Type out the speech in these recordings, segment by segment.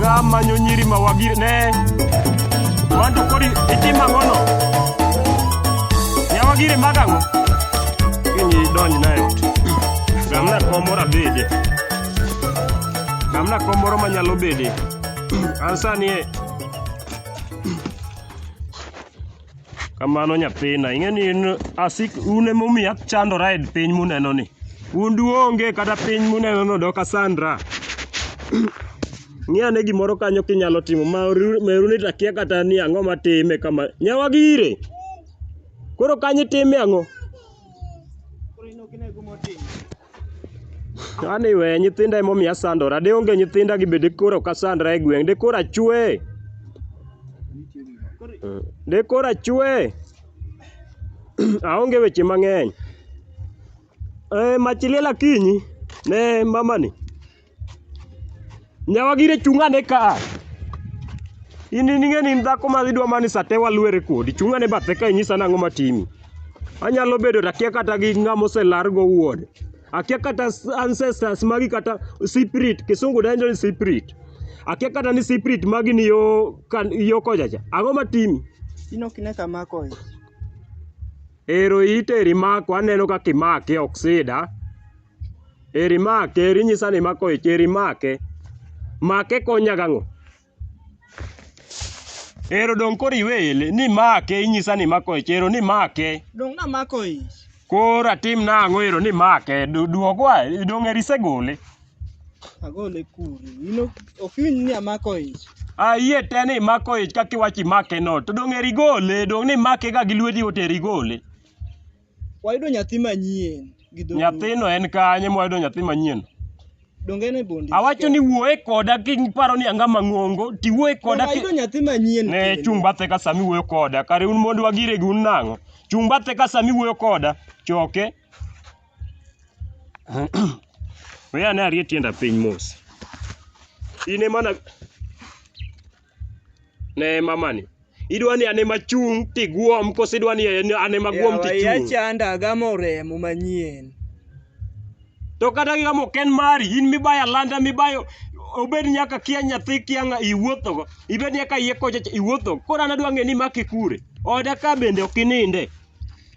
gamanyo nyiri mawagi ne wanto kodi itim ang'ono nyawagiri mag ang'o kinyi idonj na e ot gamna kom moro abede gamna kom moro manyalo bede an sani e Kamano nyathina, ing'e ni in asik un ema omiyo achandora e piny muneno ni. Un duonge kata piny muneno no dok asandra. Ng'i ane gimoro kanyo kinyalo timo ma oru- ma eruni to akia kata ni ang'o matime kama. Nyawagi ire. Koro kanyo itime ang'o? Ani we nyithinda ema omiyo asandora. De onge nyithinda gi be de koro ok asandra e gweng'. De koro achwe. De koro achwe. Aonge weche mang'eny. Eh, mach liel akinyi ne mamani. Nyawagire chung' ane ka a. In in ing'e ni in dhako ma idwa mani sate walwere kodi. Chung' ane bathe ka inyisa nang'o matimi. Anyalo bedo to akia kata gi ng'ama oselar go wuode. Akia kata s- ancestors magi kata spirit, kisungu dendo ni spirit. Akia kata ni spirit magi ni yo, kan, yo kochacha. Ang'o matimi? Ino kine kama koyo. Ero iteri mako aneno kaka imake oksida. Eri make, eri nyisa ni imako ich, eri make. Make konya gang'o? Ero dong' koro iweye le, ni make inyisa ni imako ich, ero ni make. Dong' namako ich. Koro atim nang'o ero ni make? Du- Duogwa, dong' eri isegole. Agole kure. In ok ok iwinj ni amako ich. Ayie te ni imako ich kaka iwacho imake no, to dong' eri igole, dong' ni imake ga gi lweti yot eri igole. Wayudo nyathi manyien gi dho Nyathino en kanye mwayudo nyathi manyien? Donge en e bondi? Awacho ni wuoye koda kiparo ni anga mang'ongo, tiwuoye koda ki... Wayudo nyathi manyien. Ne kendo. chung' bathe ka sami wuoyo koda. Kare un mond wagire gi un nang'o? Chung' bathe ka sami wuoyo koda. Choke. Weya ne arie tienda piny mos. In ema na... Ne mamani. Idwa ni an ema chung' tiguom koso idwa ni an ema guom Yawa iya tichung'? chanda agamo remo manyien. To kata gigamo ok en mari, in mibayo alanda mibayo obed nyaka kia nyathi kia ng'a iwuothogo, ibed nyaka iye kocha iwuothogo. Koro an adwa ng'e ni imake kure? Oda ka bende ok ininde.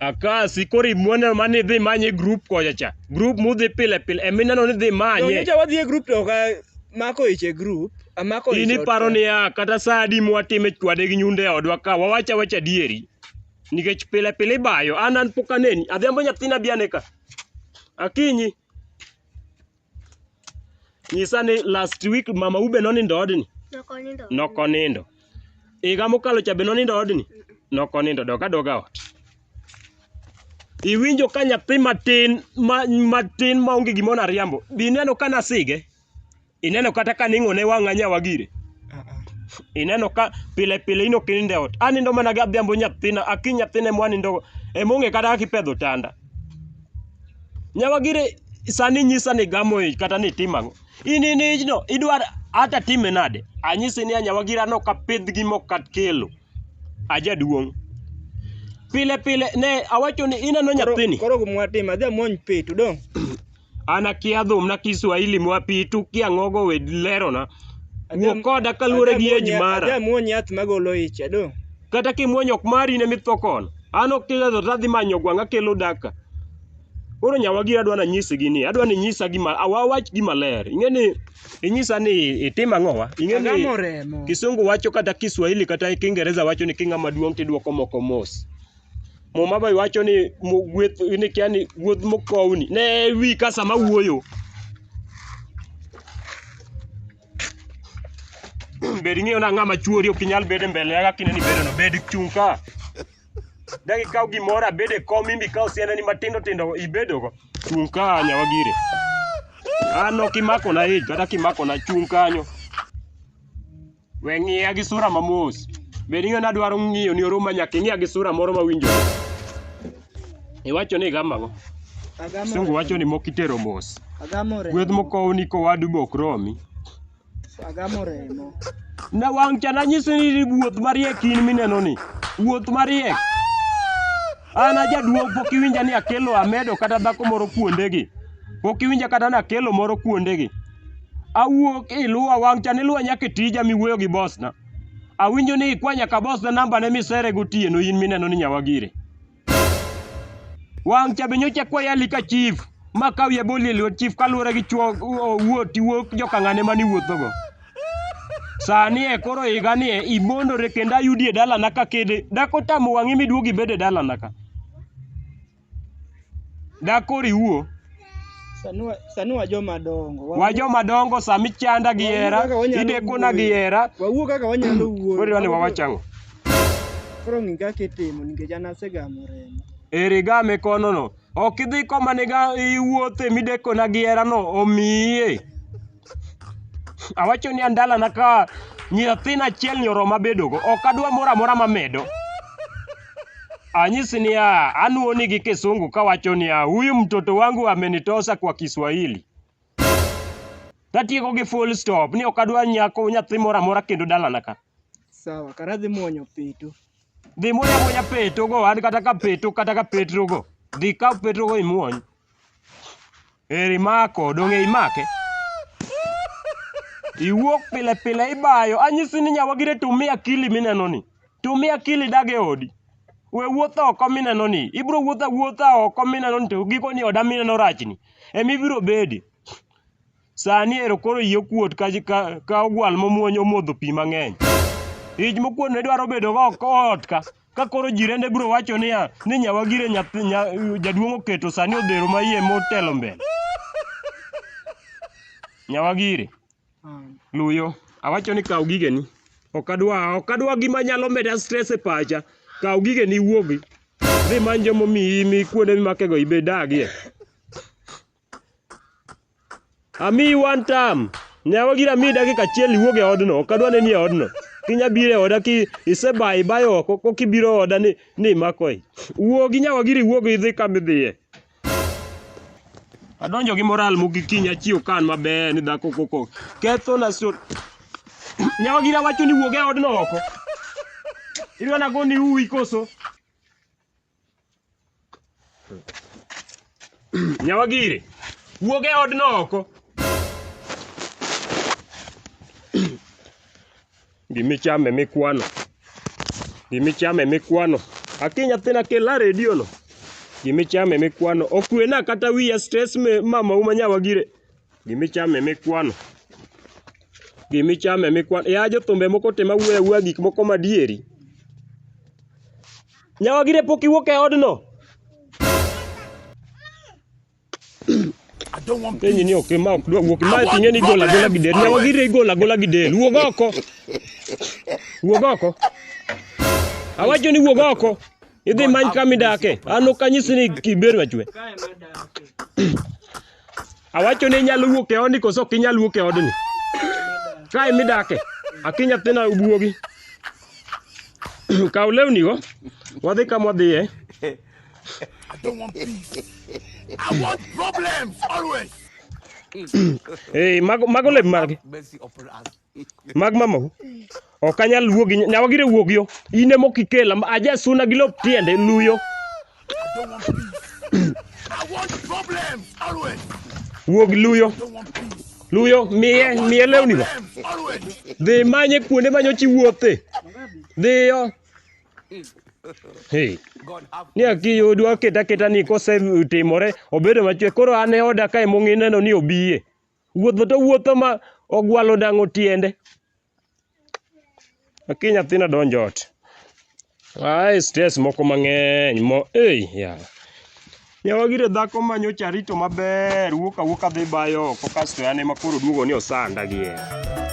Akasi koro imuoneno ma nidhi manye grup kocha cha. Grup mudhi pile pile emineno nidhi manye. Nyocha wadhi e grup to ok amako ich e grup. Amako ich. In iparo niya kata sa adi mwatime chwade gi nyunde odwa ka wawach awach adieri. Nikech pile pile ibayo. An an pok aneni. Adhiambo nyathina bi ane ka. Akinyi. nyisa ni last week mama ube nonindo odni Nokonindo. nokonindo higa mokalo cha be nonindo odni nokonindo doka doka ot iwinjo ka nyathi matin ma, matin ma onge gimoro ariambo bi ineno ka nasige ineno kata ka ning'one wang'a nyawa gire ineno ka pile pile ino kininde ot anindo mana gadhiambo nyathina aki nyathina emwanindo emong'e kata kaka ipedho tanda Nyawagire sani inyisa ni igamo ich kata ni itimo ang'o? In in ijno idwar ata time nade? Anyisi ni a Nyawagire an ok apidh gi mok kat kelo. Ajaduong'. Pile pile ne awacho ni ineno nyathini. Koro gumwatim adhi amwony pi to dong'. An akia dhum na Kiswahili mwapitu kia ngogo we lerona. Wuo koda kaluwore gi age mara. Ajamuony yath magolo ich ado. Kata kimuonyo ok mari ne mitho kono. An ok tilezo tadhi manyo gwang' akelo daka. Koro nyawagi adwa nanyisi gini. Adwa ni nyisa gima awawach gima ler. Ing'e ni inyisa ni itim ang'owa. Ing'e ni Agamo remo. Kisungu wacho kata Kiswahili kata Kiingereza wacho ni king'ama duong' tidwoko moko mos. Muma be wacho ni gweth ni kia ni gweth mokowni ne wi ka sama wuoyo. Bed ng'eyo na ng'ama chuori ok inyal bedo mbele ya kine ni bedo no bed chung ka. Dagi kaw gimoro abede kom imbi kaw siana ni matindo tindo ibedo go. Chung ka nyawa gire. An ok imako na ich kata kimako na chung kanyo. We ng'iya gi sura ma mos. Be ni ng'ana dwaro ng'iyo ni oruma nyaka ing'iya gi sura moro ma winjo. Iwacho ni gama go. Sungu wacho ni mokitero mos. Agamo remo. Gweth mokow ni kowadu bok romi. Agamo remo. Na wang' cha nanyisi ni wuoth mariek in mineno ni. Wuoth mariek. An ajaduong' pok iwinja ni akelo amedo kata dhako moro kuondegi. Pok iwinja kata ni akelo moro kuondegi. awuok iluwa wang' cha niluwa nyaka e tija miwuoyo gi bosna. Awinjo ni ikwa nyaka bosna namba ne misere gotieno in mineno ni nyawagire. Wang' cha be nyocha kwa yali ka chief ma kaw ya boli e lwet chief kaluwore gi chuo wuoti wuok jokang'ane mani wuothogo. Sani e koro higa ni e ibondore kendo ayudi e dalana ka kede dakotamo wang'i miduogi bede dalana ka. Dak koro iwuo. Sani wa- sani wa joma dongo. Wa- Wa joma dongo sami chanda gi hera, Wawuo kaka wanyalo idekona gi wuoyo. hera. Wawuo kaka wanyalo wuoyo. Koro idwani wawachang'o. Koro ng'i kaka itimo nikech an asegamo remo. Eri game kono no. Ok idhi koma niga iwuothe midekona gi hera no omiye. Awacho ni andalana ka nyathina achiel ni oroma bedogo, ok adwa moro amora mamedo. Anyisi niya, anuoni gi kisungu kawacho niya, huyu mtoto wangu amenitosa kwa Kiswahili. Tatieko gi full stop ni ok adwa nyako nyathi moro amora kendo dalana ka. Sawa, kara dhi muonyo peto. Dhi muonyo amuonya petogo, an kata ka peto kata ka petrogo. Dhi kaw petrogo imuony. Eri mako, donge imake? Iwuok pile pile ibayo. Anyisi ni nyawagire tumia akili mineno ni. Tumia akili dag e odi. We wuotho oko mineno ni. Ibiro wuotho awuotha oko mineno ni to giko ni oda mineno rachni. Ema ibiro bedi. Sani ero koro iyi okuot ka, ka, ka ogwal momuonyo omodho pi mang'eny. Ich mokuot ne dwaro bedo go ot ka. Ka koro jirende biro wacho niya, ni nyawagire nyathi nya, jaduong' oketo sani odhero ma iye motelo mbele. Nyawagire, luyo, awacho ni kaw gigeni. Ok adwa, ok adwa gima nyalo meda stress e pacha. Kaw gigeni iwuogi. Dhi many joma omiyi mi kuonde mimakego ibedagie. Amiyi one time. Nyawa gira mi dakika achiel iwuog e odno. Ok adwa neni e odno. Kinya biro e oda ki isebayo ibayo oko ko kibiro oda ni ni imakoe. Wuogi nyawa gira iwuog idhi kama idhiye. Adonjo gi moral mogik kiny achiew kan maber ni dhako koko. Ketho na so. Nyawa gira wacho ni wuog e odno oko. Idwa nagoni uwi koso? Nyawagire, wuog e odno oko. Gimichame mikwano. Gimichame mikwano. Aki nyathina kela redio no. Gimichame mikwano. Okwena kata wiya stress me mama uma nyawagire. Gimichame mikwano. Gimichame mikwano. Ya jothumbe moko te mawuoyo awuoya gik moko madieri. Nyawagire pok iwuok e odno. Penyi ni ok ma ok dwa wuok. Ma tinge ni gola gola gi del. Nyawagire gola gola gi del. Wuog oko. Wuog oko. Awacho ni wuog oko. Idhi many kama idake. An ok anyisi ni kiber machwe. Awacho ni inyalo wuok e odni koso ok inyal wuok e odni. Kae midake, aki nyathina obuogi. Kaw lewnigo, wadhi kama wadhiye. I don't want peace. I want problems always. Hey, mago mago lep margi. Mercy upon us. Mag mamau. Ok anyal wuo gi nyawa gire wuog yo. In ema ok ikela. Aja suna gi lop tiende luyo. Wuog luyo. Luyo miye miye lewni go. Dhi manye kuonde manyo chi wuothe. Dhi yo. Hey. Ni aki odwa keta keta ni kose timore obedo machwe koro an e oda kae mong'ineno ni obiye. wuotho to wuotho ma ogwalo dang'o tiende. Aki nyathina donjo ot. Ae stress moko mang'eny mo ei yawa. Yawa gire dhako ma nyocha arito maber wuok awuoka dhi bayo oko kasto en ema koro oduogo ni osanda gi hera.